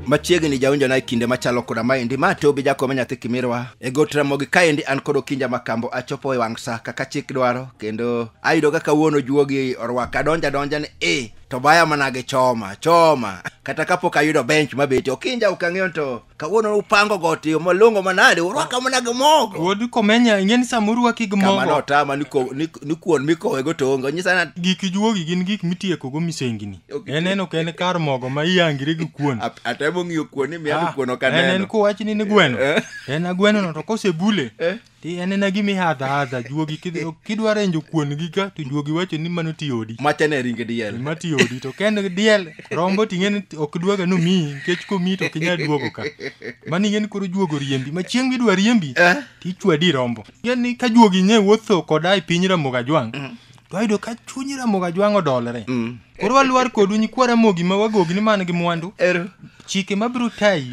machiegni jaonjona e kinde machalo koda maendi ma tobi jakome nyathi kimirwa e got ramogi kaendi an kod okinja makambo achopo e wang' sa kaka chik dwaro kendo ayudo kaka wuon ojuogi orwaka adonja donja ni e to baya manage choma choma kata kapok ayudo bench mabeti okinja ok ang'eyo to kawuono upango got yo malongo manade urwaka mana gi mogo wuod komenya ing'e ni sama urwaki gi kamano mogo otama ni ko- ni- ni kuon mikowego to onge onyisa na gik juogi gin gik mitiekogo misengini Ok. en en ok en kar mogo ma iyangire gi kuon ap- atemo ng'iyo kuon ni miano Ah, kuon ok en en aneno kowachni ni gweno Eh. en agwenono to kosebule Ti anena gima ihadha hadha juogi kidhi- kidwa renjo kuon gi ka to juogi wacho ni mano ti odi. Machane e ringe diel. Gima ti odi to ka en diel rombo ting'e ni ok dwaga ni omiyi nikech komiyi to ok inyal duogo ka. Mano ing'e ni koro juogo riembi ma chieng' midwa riembi Eh? to ichwadi rombo. Ing'e ni ka juogi nye wuotho koda e piny Ramogi Ajwang' to ayudo ka chuny ramoga jwang' odolre mm. koro walwar kodu nyikwa ramogi ma wagogi ni man gi mwandu chike mabiro tayi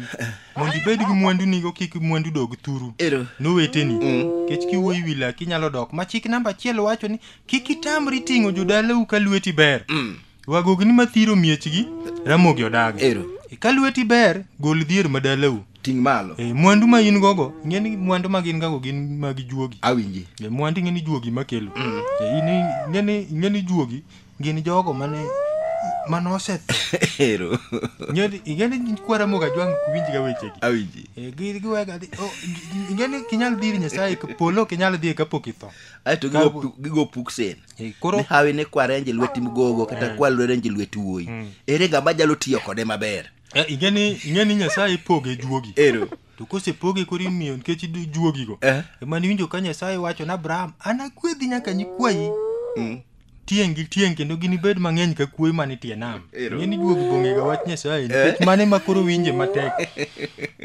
mondo ibed gi mwandu nigo kik mwandu dog thuru noweteni mm. kech kiwuoyi wi laki nyalo dok ma chik namba achiel wacho ni kik itamri ting'o jodalau ka lweti ber mm. Wagogni mathiro miechgi, Ramogi odaga. Ero. E, Ka lweti ber, gol dhier ma dalau. Ting' malo. E, Mwandu ma in gogo, ing'e ni mwandu ma gin gago gin mag juogi. Awinji. E, Mwandu ing'e ni juogi ma kelo. E, in ing'e ni ing'e ni juogi gin jogo mane mane osetho. Ero. Ing'e ni- ing'e ni kwa Ramogi Ajwang' ok winj ga wechegi. Awinji. E, gi- giwega dhi- o, ing'e ni ok inyal dhir Nyasaye, polo ok inyal dhiye kapok itho. Aeto Ka- gigo gigo puksen. Eh, koro ne hawi ne kware anje lweti mgogo kata eh. kwa lwere anje lweti wuoyi hmm. ere ga ma jalo tiyo kode maber eh, ingeni ingeni nyasaye poge juogi ero to kosepoge koro imiyo nikech juogigo eh. emane iwinjo ka nyasaye wacho na abraham anakwedhi nyaka nyikwayi mm. tieng' gi tieng' kendo ginibed mang'eny ka kuoyi man itie nam ng'eni juogi bong'ega wach nyasaye nikech mane ma koro winje matek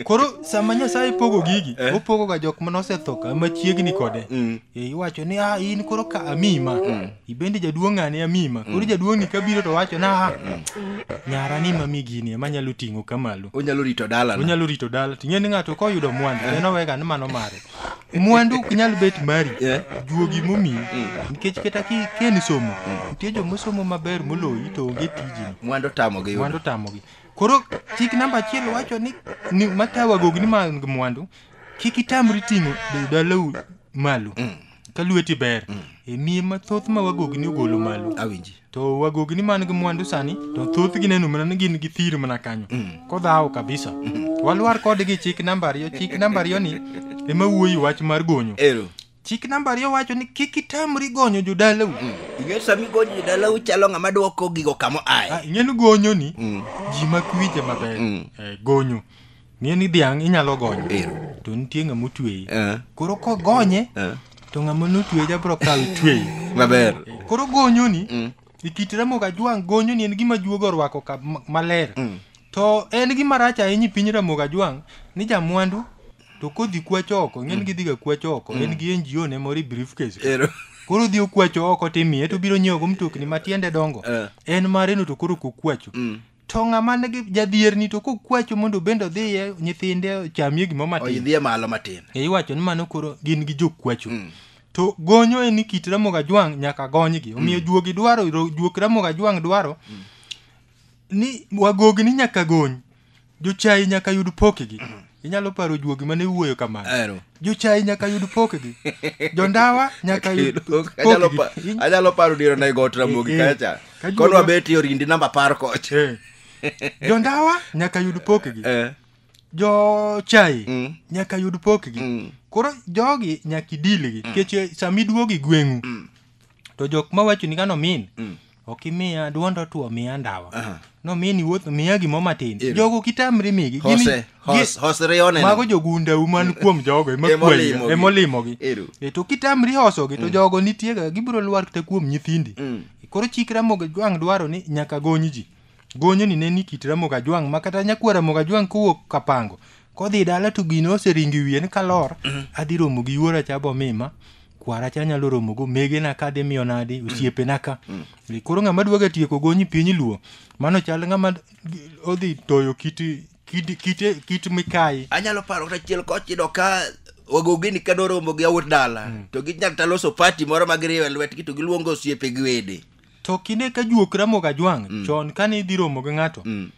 koro sama nyasaye pogo gigi opogoga jok mane osetho ka machiegni kode mm. Eh, iwacho ni ah, in koro ka amima mm. ibende jaduong' ng'ane amima koro mm. jaduong' ni kabiro to wacho na ah, mm. nyara ni mami gini ema nyalo ting'o kamalo onyalo rito dala onyalo rito dala ting'e ni ng'ato koyudo mwandu eh. en owega ni mano mare mwandu ok nyal bet mari eh. juogi momi nikech kata ken somo nitie jomosomo maber moloyi to onge tijini mwandu tamogi mwandu tamogi koro chik namba achiel wacho ni, ni matawagogi ni mag mwandu kik itamri ting'o be dalau malo ka lweti ber e miye mathoth ma wagogni ogolo malo awinji to wagogni man gi mwandu sani to thothgi neno mana ni gin gi thir mana kanyo kodhawo kabisa walwar kodgi chik namba ariyo chik namba ariyo ni ema wuoyi wach mar gonyo ero chik namba ariyo wacho ni kik itamri gonyo jodalau ing'eyo sami gonyo jodalau chalo ng'ama dwoko gigo kamo aye Ah, ing'eni gonyo ni ji makwinje maber Eh, gonyo Ng'e ni dhiang' inyalo gonyo. Ero. To nitie ng'ama otweye. Eh. Koro kogonye Eh. to ng'ama notweye ja bro kawo tweye. Maber. Koro gonyoni Mm. e kit remo gajwang' gonyoni en gima juogo orwako ka ma- maler. Mm. To en gima rach ahinya e piny remo gajwang' ni jamwandu to kodhi kwacho oko ng'en gidhiga kwacho oko en gi NGO ne moro e briefcase. Ero. Koro odhi okwacho oko timiye to obiro nyiewogo mtokni matiende dongo. Eh. En mareno to koro kokwacho. Mm. to ng'ama nigi jadhierni to kokwacho mondo obende odhiye nyithinde ochamie gimo matin oyidhie malo matin e iwacho ni mano koro gin gi jokwacho Mm. to gonyo en ni kit ramogi ajwang' nyaka gonygi omiyo juogi dwaro ro- juok ramogi ajwang' dwaro ni wagogni nyaka gony jochayi nyaka yud pokgi inyalo paro juogi mane wuoyo kamano Ero. jochayi nyaka yud pokgi jondawa nyaka yud Anyalo pa- pokgi In- anyalo paro diro na igot ramogi Eh, eh. kacha Ka juoga- kodwa beti orindi namba par koch Eh. jondawa nyaka yud pokgi Eh, jochayi Mm. nyaka yud pokgi Mm. koro jogi nyaka idilgi nikech sama iduogi gweng'u to jok mawacho ni kano min ok imiya duond otuo miya ndawa Aha. nomini wuotho miya gimo matin Ero. jogo kitamri migi Gini- Hose, hos, gi- hos rione. mago jogundau man kuom jogo Ema olimogi. emakweyo emolimogi Ero. E, to kitamri hosogi to jogo nitiega gibiro lwar kata kuom nyithindi Mm. koro chikra mogo jwang' dwaro ni nyaka gony ji Gonyo ni ne ni kit Ramogi Ajwang' ma kata nyakwar Ramogi Ajwang' kowuok Kapango kodhi dala to gino oseringo e wiye ni kalor adhi romo gi yuora cha bomima kwara cha nyalo romo go megena ka dhi miyo nadi osiepena ka E, koro ng'ama dwaga tieko gonyi piny luo mano chal ng'ama odhi toyo kit kit kit, kit mikayi anyalo paro kata chiel koch iyudo ka wagogini ka noromo gi awuot dala to ginyalo ta loso pati moro ma giriwe lwetgi to giluongo osiepe gi wede to kine ka juok ramo ga jwang mm. chon kane idhi romo gi ng'ato mm.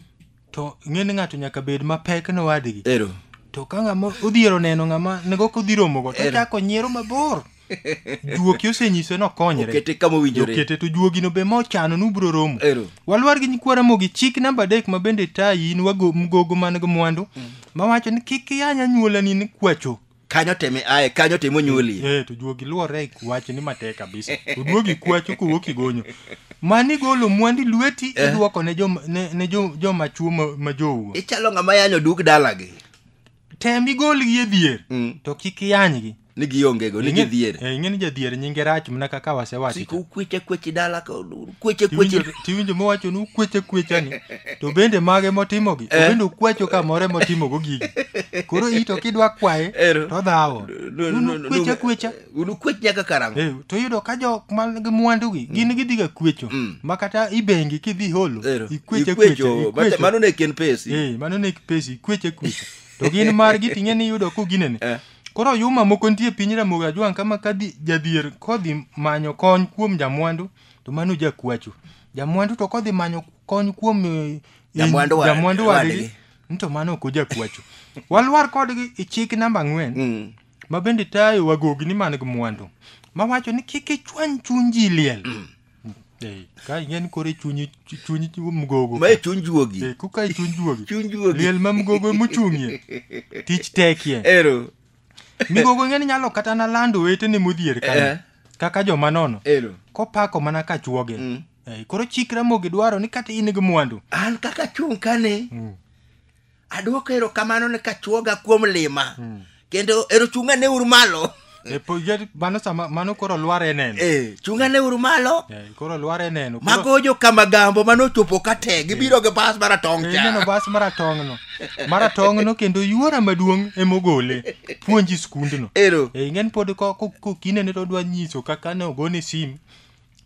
to ng'eni ng'ato nyaka bed mapek ne wadgi ero to ka ng'ama odhiero neno ng'ama nego kodhi romo go to chako nyiero mabor juoki osenyiso ni okonyre okete kama owinjore okete to juogi no be ma ochano ni ubiro romo walwar gi nyikwara mogi chik namba adek ma bende tayi in wago mgogo man gi mwandu mm. mawacho ni kik iyanya nyuolani ni kwacho kanyo teme aye kanyo teme onyuolie eh to juogi luore e wach ni matek kabisa to duogi kwacho kowuok igonyo mani golo mwandi lweti Eh. iduoko ne joma ne, ne jo- joma chuo ma, ma jowo ichalo ng'ama yanyo duk dalagi tem igolgi e dhier Mm. to kik iyanygi ni giongego ni Ing'e- gidhier eh, ing'e ni jadhier nyinge rach mana kaka wasewacho sik ukweche kweche dala ka kweche kweche Tiwinjo- tiwinjo mowacho ni ukweche kwechani to bende mage motimogi to Eh. bende ukwecho kamore motimogo gigi koro i to kidwa kwaye Ero. to dhawo No, no, no, no. kwecha kwecha unukwech nyaka karang'o Eh, to yudo ka jok man gi mwandugi gin gidhiga kwecho Mm. ma kata ibengi kidhi holo Ero. ikweche kwecha Ikwecho. Mata- ikwecho. mano ne ken pesi Eh, mano ne pesi ikweche kwecha to gin margi ting'e ni yudo kuginene Eh. koro yuma moko nitie piny ramogi ajwang' kama kadhi jadhier kodhi manyo kony kuom jamwandu to mano jakwacho jamwandu to kodhi manyo kony kuom eh, Jamwandu wa- jamwandu wadgi. wadgi ni to mano ok ojakwacho walwar kodgi e chik namba ang'wen Mm. ma bende tayo wagogni man gi mwandu mawacho ni kik ichwany chuny ji liel Eh, ka ing'eni koro e chunyi chunyi mgogo ma e chuny juogi Eh, kuka e chuny juogi chuny juogi liel ma mgogo emochung'ie tich tekie ero migogo ing'eni nyalo kata na lando wetene modhier Eh. kanyo kaka joma nono Ero. kopako mana ka chuoge Mm. Eh, koro chik ramogi dwaro ni kata in gi mwandu An kaka chung' kani, Mm. adwoko erokamano ne kachuoga kuom lima. Mm. Kendo ero chung'ane uru malo. E, po- yer- mano sama mano koro lwar e neno Eh, chung'ane uru malo. Eh, koro lware neno Koro- mago jokamagambo mane ochopo ka te gibiro gi bas maratong' Eh, cha ineno bas maratong'no maratong'no kendo yuora maduong' emogole puonji skundno ero e ing'en pod ko- ko- kokinene to odwa nyiso kaka ne ogone sim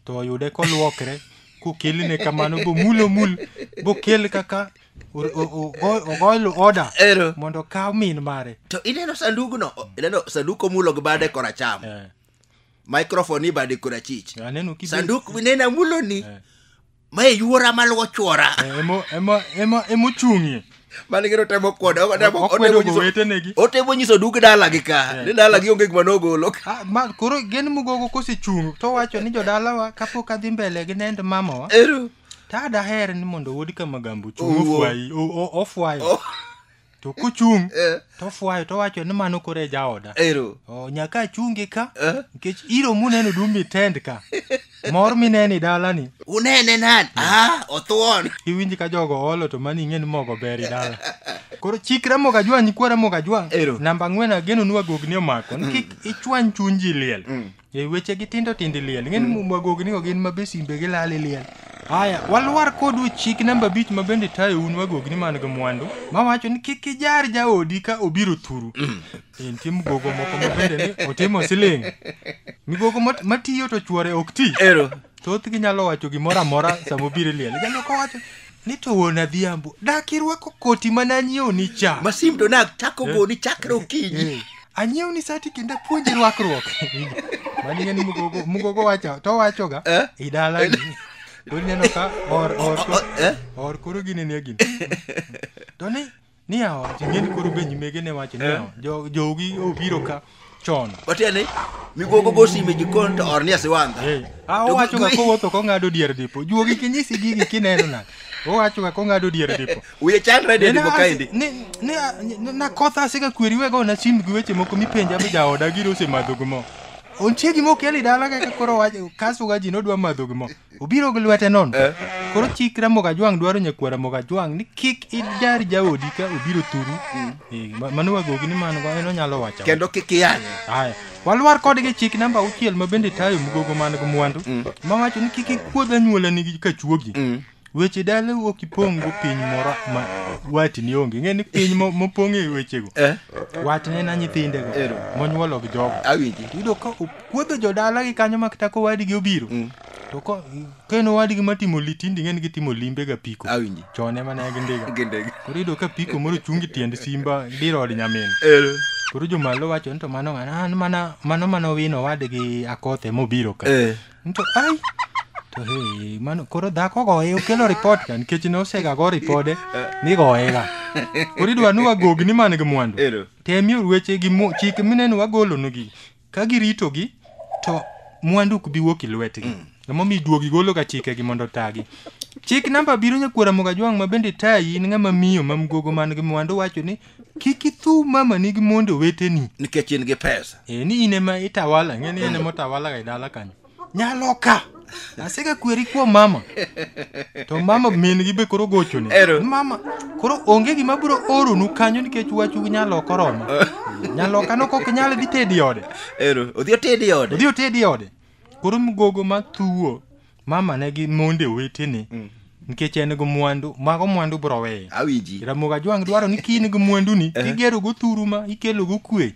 to oyude kolwokre kokelne kamano bomulo mul bokel kaka o- o- o- go- ogoyo oda ero mondo okaw min mare to ineno sandugno ineno sanduk omulo gi bade koracham Eh, microphone ibade korachich Aneno kibe- sanduk nena muloni Eh. ma e yuora maluwo chwora Eh, emo- emo- emo- emochung'ie mane gero temo kwode otemo- Okwedo otemo nyiso- gowetenegi. otemo nyiso dug dalagi ka ni dalagi onge gima nogolo Ah, ma koro gen mugogo kosechung' to wacho ni jodalawa kapok adhi mbele gi nend mamawa ero to adaher ni mondo wuod kamagambo chung' Owuo. ofwayi o- o- ofwayo to kochung' Eh, tofwayo towacho ni mano koro e jaoda ero Oh, nyaka achungi ka Eh? nikech iro muneno dum mitend ka mor mineni dalani unene nani ah othuon iwinji ka jogo olo to mani ing'e ni mogo ber i dala koro chik ramoga jwang' nyikwa ramoga jwang' Ero. namba ang'wen ageno ni wagogni omako ni kik ichwany chuny ji liel E weche gi tindo tindo liel. Ng'en mm. mwago gini gin mabe simbe gi lali liel. Haya, walwar kodu chik namba bich ma bende tayo un wagogi ni man gi mwandu ma wacho ni kik ijar jaodi ka obiro thuru. Mm. E, nitie mgogo moko ma bende ni otimo siling. Migogo matiyo to chwore ok ti. Ero. Thothgi nyalo wacho gimoro amora sama obiro liel. Jalo kowacho Ni to wuon Adhiambo, dak irwako koti ma nanyiewni cha. Masim to nachako goni chakre okinyi. Anyiewni sati kendo apuonji rwakruok. Mani ng'eni mugogo, mugogo wacho, to wachoga. Eh? I dalagi. To ineno ka or, or, O- o- eh? or koro gini nie gini. To ni, Ni awacho, ing'e ni koro be nyimege ne wacho ni Eh. yawa, jo- jogi obiro ka chon. Watia ni migogo go sime jikon to or ni asiwandha. Eh, ah, To owacho ga gi- kowuotho kong'ado dier dipo. Juogi kinyisi gigi kineno na. Owacho ga kong'ado dier dipo. Wiye chandre de dipo kaendi. Ni ni a- ni- na kotha asika kweri wego na sim gi weche moko mipenja be jaoda giro osemadho gi mo. Ontie gima okeli dala kaka koro wacho kaso ga ji nodwa madho gi mo. obiro gi lwete nono koro chik ramogi ajwang' dwaro nyakwar ramogi ajwang' ni kik ijar jaodi ka obiro thuru Eh, ma- mano wagogi ni mano en onyalo wacho kendo kik iyanye Aya, walwar kodgi chik namba auchiel ma bende tayo mgogo man gi mwandu ma wacho ni kik ikuodh anyuolani gi kachuogi weche dalau ok ipong' go piny moro ma watni onge ng'e ni piny mo- mopong' e wechego Eh. watne na nyithindego Ero. monyuolo gi jogo awinji yudo ka Kuodho jodala gi kanyo mak tako wadgi obiro. Mm. To ko ken wadgi matimo litindi ng'en gitimo limbe ga piko. Awinji. Chone mana gi ndiga. Gi ndiga. Koro yudo ka piko moro chungi tiend simba diro od nyamin. Eh. Koro jomalo wacho ni to mano ng'ana ah, an mana mano mana wino wadgi akothe mobiro ka. Eh. To ai to hey mano koro dhako goye okelo ripot ka nikech ne osega go ripode eh. ni goye ga. Koro idwa ni wagogni man gi mwandu. Ero. Temi orueche gi chik mineno wagolonugi. ka giritogi to mwandu ok bi wuok e lwetgi mm. emomiyo iduogi gologa chikegi mondo otagi chik namba biro nyakwara mogajwang' ma bende tayi in ng'ama miyo ma mgogo man gi mwandu wacho ni kik ithu mama nigi mondo weteni nikech in gi pesa e ni in ema itawala ng'eni in ema otawalaga e dala kanyo nyalo ka asega kweri kuom mama to mama min gi be koro gochone Ero. mama koro onge gima biro oronu kanyo nikech wachu gi nyaloka oromo nyaloka no kok nyal dhi tedi ode ero odhi otedi ode odhi otedi ode koro mgogo ma thuwo mama ne gi monde wetene nikech en gi mwandu mago mwandu biro weyo awinji ramoga jwang' dwaro ni ka in gi mwanduni igerogo thuru ma ikelogo kwe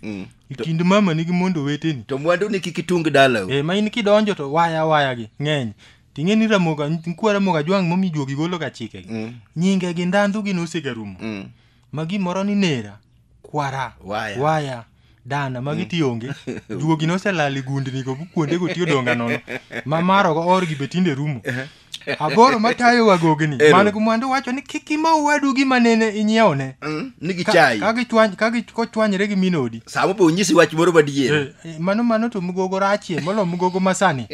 e kind mamani gi mondo weteni to mwanduni kik itung dalau e ma in kidonjo to waya waya gi ng'eny ting'e ni ramoga nkwa ramoga jwang' momi juogi golo ga chike gi Mm. nyinge gi ndandhu gi nosegarumo Mm. ma gimoro ni nera kwara Waya. waya dana magi tionge juogi noselal e gundni go kuondego tiyo donga nono ma marogo orgi be tinde rumo aboro matayo wagogni Ero. man gi mwandu wacho ni kik ima owadu gima nene inyiewone Mm, ni Ka- gichayi ka gichwany- ka gi- kochwanyre gi minodi sama opo onyisi wach moro madier Eh, eh, mano mano to mugogo rachie molo mugogo masani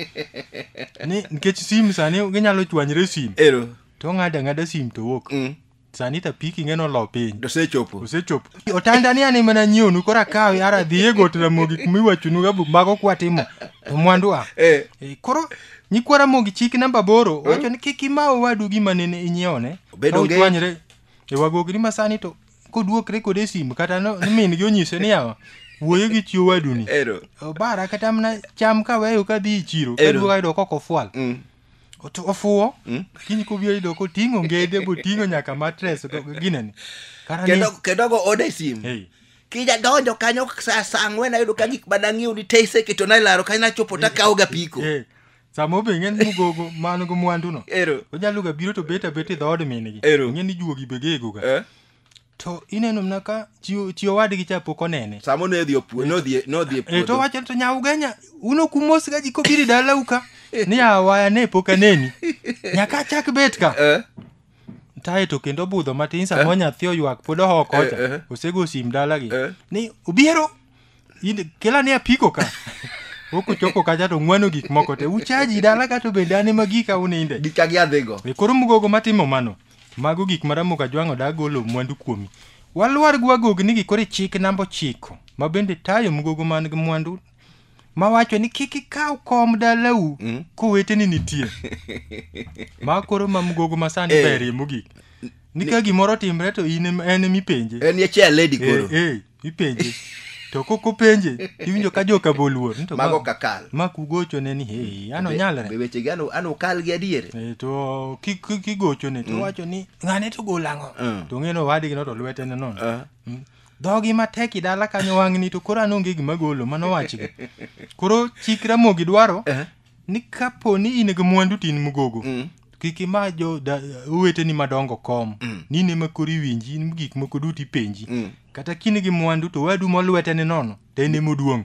ni nikech sim sani ginyalo chwanyre sim ero to ng'ada ng'ada sim to wuok Mm. sani ta piki ng'e nolo piny dosechopo osechopo otanda ni ani mana nyiewnu koro akawe ara dhi e got ramogi kuma iwachonu gabu mago kwatimo to mwandu a eh. Eh, koro nyikwa ramogi chik namba boro wacho ni kik ima owadu gima nene inyiewone Obedo Ka nge- uchwanyre e wagogni ma sani to koduokre kode e simu kata no- ni min gi onyise ni yawa wuoyo gi chi owaduni ero obara kata mana cham kaweyo kadhi e chiro Ero. kaduogo ayudo kokofwal Mm. Otu- ofuwo Mm. kiny kobiro yudo koting'o ngede boting'o nyaka matres ginene Kara ni- kendo kendo go ode simu Hey. kija donjo kanyo saa saa ang'wen ayudo ka gik madang'iew ni tese keto na ilaro kanyo nachopo takawo ga piko Eh, sama obe ng'en mugogo man go mwanduno ero onyalo ga biro to bet abet e dhood mingi Ero. ng'e ni juogi be gegoga Eh, to ineno mna ka chi chi owadgi cha pok onene Samo ne dhi opue, no dhi no dhi e e to puodho. wacho to nya ugenya uno kumos ga ji kobiri dala uka ni awaya ne pok aneni nyaka achak bet ka Eh, tae to kendo budho matin sama nyathi oywak pod oho kocha Eh, eh. osego sim dalagi Eh. ni obiro in kila ni apiko ka ok ochopo kacha to ng'wano gik moko te uchaji dala ka to bende an ema gika uninde gika gi adhigo e koro mugogo matimo mano mago gik maramo ka jwang'o da golo mwandu kuomi walwar gi wagogni gi koro chik namba ochiko ma bende tayo mugogo man gi mwandu mawacho ni kik ikaw kom dalau mm. koweteni nitie ma koro ma mugogo masani e. Eh. berie mogik ni ka gimoro timre to in en mipenje en ye chair lady koro eh, eh. ipenje to kok openje iwinjo ka joka boluor ni to mago ma- kakal mak ugochone ni hei an Be onyalre wechegi an an okal gi adier Eh, to ki- ki- kigochone to wacho ni ng'ane to gol ang'o Mm. to ng'eno owadgi no to lwete ne nono Ah. Mm. dhogi matek i dala kanyo wang'ni to koro an onge gima golo mano wachgi koro chik ramogi dwaro Eh. ni kapo ni in gi mwandu to in mgogo Mm. kik ima jo da- oweteni madongo kom Mm. ni in ema koro iwinji in gik moko duto ipenji Mm. kata kini gi mwandu to wadu molwete ni nono to en ema oduong'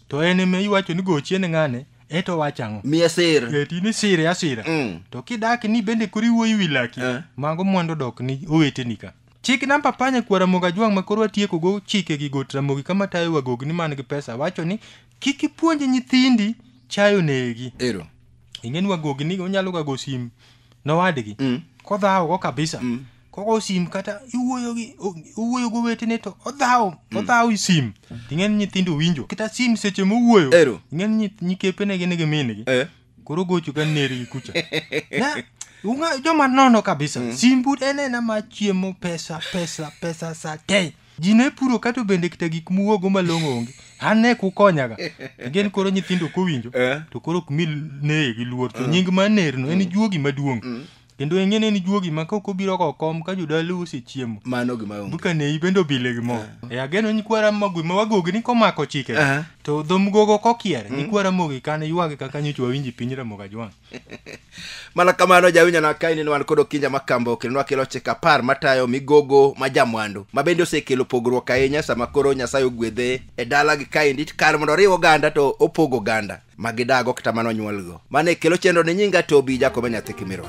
to en ema iwacho ni gochie ni ng'ane eto wach ang'o miye sir Eh, to in isire asira Mm. to kidak ni bende koro iwuoyi wi laki Eh. mago mwandu dok ni oweteni ka chik namba panya kwara moga jwang' ma koro atiekogo chike gi got ramogi kama tayo wagogni man gi pesa wacho ni Kik ipuonj nyithindi chayo negi. Ero. Ingeni wagogi ni onyalo gago sim nowadgi. Mm. Kodhawo go kabisa. Mm. Kogo sim kata iwuoyo gi iwuoyo go wetene to odhawo mm. odhawo sim. Ingeni nyithindo winjo. Kita sim seche mowuoyo. Ero. Ingeni nyikepe ne gin gi min gi. Eh. Koro gocho kan neri gi kucha. Na unga joma nono kabisa. Mm. Sim bud enena ma chiemo pesa pesa pesa sa tei. ji ne puro kato bende kita gik muwogo malong'o onge an ne kukonyaga again koro nyithindo kowinjo Eh. to koro ok mi neye gi luor to nying ma nerno en juogi maduong' kendo eng'e ne en juogi ma kok obiro go kom ka jodalo osechiemo mano gima onge buka nei bende obile gi mo e ageno nyikwara magwe ma wagogi ni komako chike Eh. to dhomgogo kokier nyikwara mogi kane ywagi kaka nyocha wawinji piny ramoga jwang' mana kamano jawinjo na kaini ni wan kod okinja ma kambo kendo wakelo chike apar matayo migogo ma jamwandu ma bende osekelo pogruok ahinya sama koro nyasaye ogwedhe e dala gi kaendi kar mondo oriw oganda to opogo oganda ma gidago kata mana onyuolgo mano e kelo chenro ni nyinga tobi jakobe nyathi kimirwa